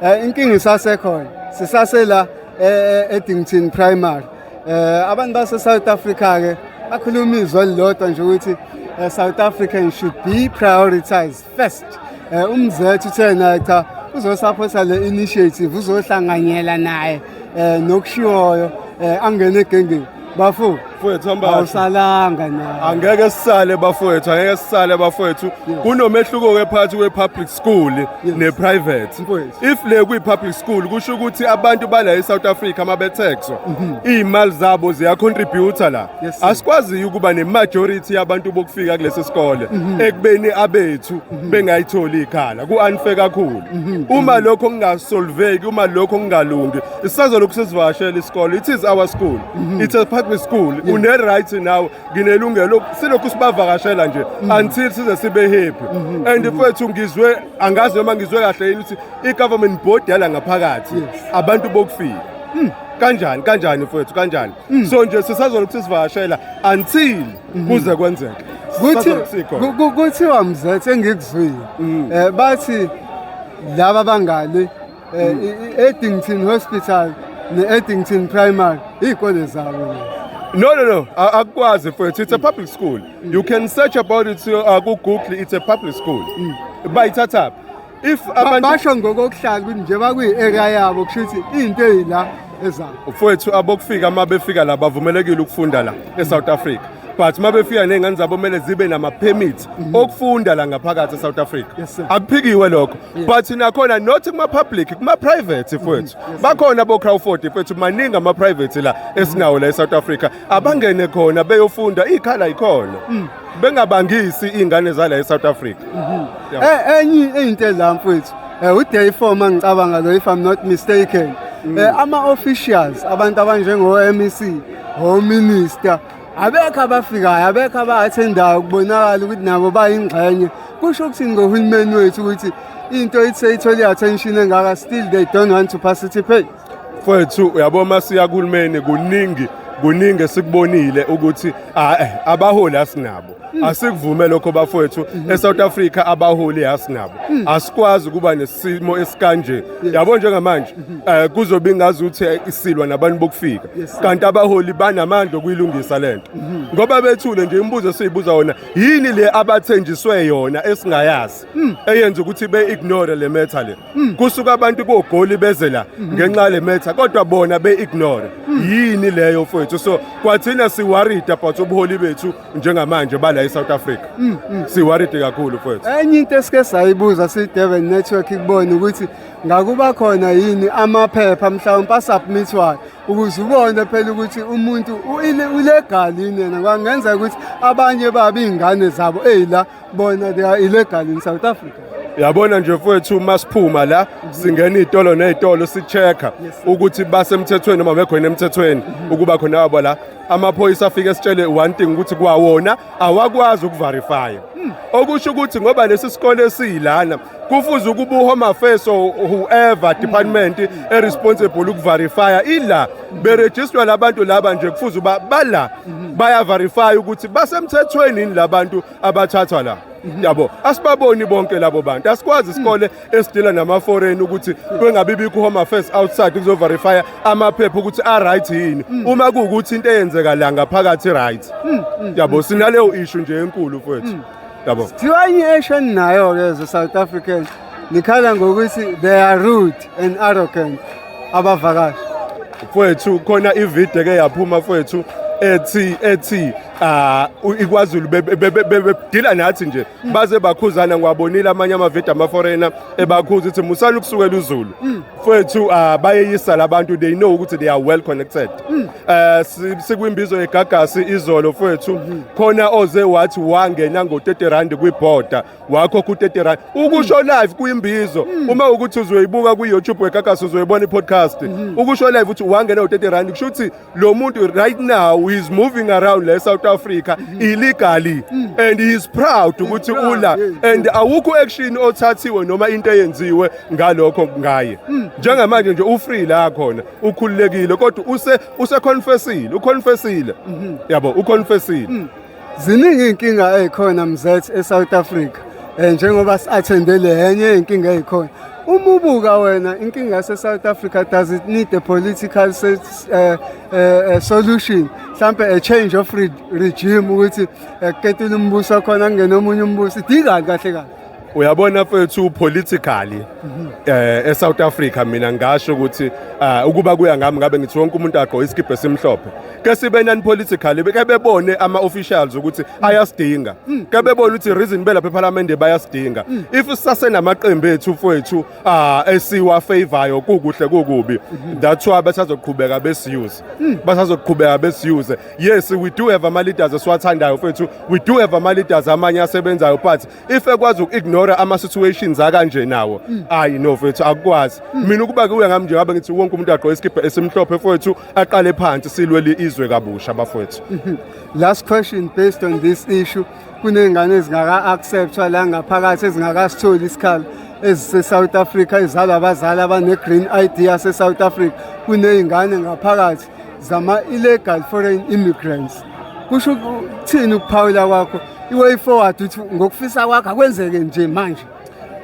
eh, inkinga isasekhona sisasela eh, eh, eDington Primary eh abantu base South Africa ke bakhuluma izwi elilodwa nje ukuthi eh, South African should be prioritized first eh, umzethu uthena cha uzosaphosa le initiative uzohlanganyela naye eh, nokushiwoyo eh, angene egengeni bafo mfowethu hamba awusalanga na angeke sisale bafowethu angeke sisale bafowethu kunomehluko ke phakathi kwe-public school ne-private Mfowethu. if le kwi-public school kusho ukuthi abantu bala e-south africa uma bethexwa iy'mali zabo ziyacontributa la Mhm. Yes, sir. asikwaziyo ukuba ne-majority yabantu bokufika kulesi sikole Mhm. ekubeni abethu bengayitholi ikhala ku-unfair kakhulu Mhm. uma lokho kungasolveki uma lokho kungalungi isazolokhu sizivakashela isikole it is our school mhm. it's a public school une-right nawe nginelungelo silokhu sibavakashela nje mhm. until size sibe happy mhm. and mfethu ngizwe angazi noma ngizwe kahle yini ukuthi i-government board yala ngaphakathi abantu bokufika hmm. kanjani kanjani mfethu kanjani hmm. so nje sisazolokhu sizivakashela until kuze kwenzeke kuthiwa mzethe engikuzwile um bathi laba bangali Eh, I-Eddington Hospital ne-Eddington Primary iy'kole zabo No, no, no. A- Akukwazi mfowethu. It's a public school. You can search about it uh, ku Google. It's a public school. Bayithatha. If Ba- abantu basho ngokokuhlala ukuthi nje bakwiyi-area yabo kusho ukuthi into eyila ezabo mfowethu abokufika uma befika la bavumelekile ukufunda la eSouth Africa. but uma befika ney'ngane zabo kumele zibe nama-permit mhm. okufunda la ngaphakathi e-south africa akuphikiwe lokho but nakhona not kuma-public kuma-private mhm. fwethu bakhona bo-crowford fwethu maningi ama-private la esinawo la e-south africa abangene khona beyofunda iy'khala yikhona mm. bengabangisi iy'ngane zala e-south africa mhm. e-, enye into edla mfwethu um eh, uday four ma ngicabanga lo if i'm not mistaken um ama-officials abantu abanjengo-mec ominister abekho abafikayo abekho abathendayo kubonakala ukuthi nabo bayingxenye kusho ukuthini ngohulumeni wethu ukuthi into ithi seyithole i-attention engaka still they don't want to participate mfwethu uyabo uma siya kuhulumeni kuningi kuningi esikubonile ukuthi ah, eh, abaholi asinabo hmm. asikuvume lokho bafowethu hmm. eSouth Africa abaholi asinabo hmm. asikwazi kuba nesimo esikanje yabo njengamanje eh, kuzobe ingazi ukuthi isilwa nabantu bokufika kanti abaholi banamandla okuyilungisa le nto mhm. ngoba bethule nje imibuzo esiyibuza wona yini le abathenjiswe yona esingayazi mm. eyenza ukuthi be-ignore le metha le mm. kusuka abantu kogoli beze la mm-hmm. ngenxa yale metha kodwa bona be-ignore mm. yini leyo fwethu so kwathina siwaride about ubuholi bethu njengamanje bala e-south africa siwaride kakhulu fwethu enye into esike sayibuza si-devon network kubona ukuthi ngakuba khona yini amaphepha mhlawumpe asubmithwayo ukuze ubone phela ukuthi umuntu ulegal yini yena kwangenzeka ukuthi abanye baba iy'ngane zabo eyila bona they are illegal in south africa yabona nje mfowethu uma siphuma la singena iy'tolo ney'tolo si-check-a ukuthi basemthethweni noma bekhona emthethweni ukuba khona wabo la amaphoyisa afike sitshele one thing ukuthi kwawona awakwazi ukuverifya hmm. okusho ukuthi ngoba lesi sikole esiyilana kufuze ukuba uhome affairs or whoever hmm. department hmm. eresponsible ukuverifya ila berejistwa labantu laba nje kufuze uba bala bayaverifya ukuthi basemthethweni yini labantu abathathwa la yabo asibaboni bonke labo bantu asikwazi isikole esidila nama-foreign ukuthi kwengabe ibikho home affairs outside kuzoverifya amaphepha ukuthi a-right yini mm. uma kuwukuthi into eyenzeka la ngaphakathi i-right mm, mm, yabo sinaleyo ishu nje enkulu fwethu yabo kuthiwa enye esho eninayo-ke ze south africans nikhala ngokuthi they are rude and arrogant abavakashi fwethu khona ivideo ke yaphuma fwethu ethi ethi ah ikwazulu bebedila nathi nje baze bakhuzana ngiwabonile amanye amavidi amaforena ebakhuza ukuthi musani ukusukela uzulu fethu ah, bayeyisa labantu they know ukuthi they are well connected Eh, si- sikwimbizo yegagasi izolo fethu khona oze wathi wangena ngo-30 rand kwibhoda wakho ku-30 rand ukusho live kwimbizo uma ukuthi uzoyibuka kwi-youtube wegagasi uzoyibona i-podcast ukusho live ukuthi wangena ngo-30 rand kusho ukuthi lo muntu right now is moving around le South Africa mm. illegally mm. and he is proud ukuthi ula and awukho action othathiwe noma into eyenziwe ngalokho ngaye mm. njengamanje nje u free la khona ukhululekile kodwa use use confessile u confessile mm-hmm. yabo u confessile Ziningi izinkinga ezikhona mzethe eSouth Africa. Eh njengoba siathende lenye izinkinga ezikhona. Uma ubuka wena inkinga yaseSouth Africa does it need a political set, uh, eh, uh, eh, eh, solution mhlambe a change of re regime ukuthi ekuketile umbuso khona kungena omunye umbuso idingani kahle kahle uyabona fethu politically eh eSouth Africa mina ngasho ukuthi ah, ukuba kuya ngami ngabe ngithi wonke umuntu agqoke isikibhe esimhlophe ke sibe non politically ke bebone ama officials ukuthi ayasidinga ke bebone ukuthi reason belapha eParliament bayasidinga if sase namaqembu ethu fethu ah esiwa favorayo kukuhle kukubi that's why basazoqhubeka besiuse basazoqhubeka besiuse yes we do have ama leaders esiwathandayo fethu we do have ama leaders amanye asebenzayo but if ekwazi uku-ignore ama situations akanje nawo ayi no fethu akukwazi mina ukuba kuwe ngami nje ngabe ngithi wonke umuntu agqoke isikibha esimhlophe fethu aqale phansi silwe li izwe kabusha bafethu Last question based on this issue. kuney'ngane ezingaka-acceptwa la ngaphakathi ezingakasitholi isikhala ezise-south africa ezalwa abazali abane-green i d yase-south africa kuney'ngane ngaphakathi zama-illegal foreign immigrants kusho ukuthini ukuphawula kwakho i-way forward ukuthi ngokufisa kwakho akwenzeke nje manje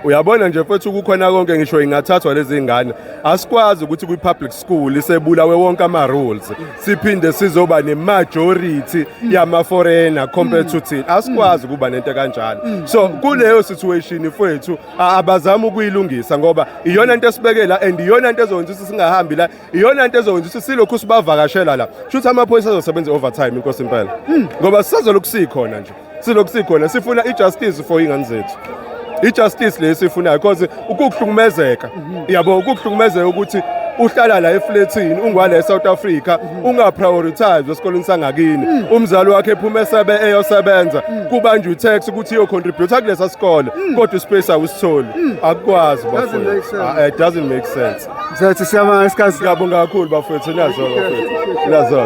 uyabona nje mfethu kukhona konke ngisho ingathathwa lezi ngane asikwazi ukuthi kwi-public school isebulawe wonke ama-rules siphinde sizoba ne-majority yama-foreigner compared to thina asikwazi ukuba nento kanjalo so kuleyo situation fwethu a- abazama ukuyilungisa ngoba iyona nto esibekela and iyona nto ezokwenza ukuthi singahambi la iyona nto ezokwenza ukuthi silokhu sibavakashela la shuthi amaphoyisa azosebenza i-overtime inkosi impela ngoba sisazolokhu sikhona nje silokhu sikhona sifuna i-justice for iy'ngane zethu i-justice le esifunayo because ukukuhlukumezeka yabo ukukuhlukumezeka ukuthi uhlala la efletini ungwala eSouth Africa ungaprioritize esikoleni sangakini umzali wakhe ephuma esebe eyosebenza kubanjwa utax ukuthi iyo contribute kulesa sikole kodwa ispace awusitholi akukwazi bafethu Ah, it doesn't make sense Mzansi siyabonga isikhathi siyabonga kakhulu bafethu nazo bafethu nazo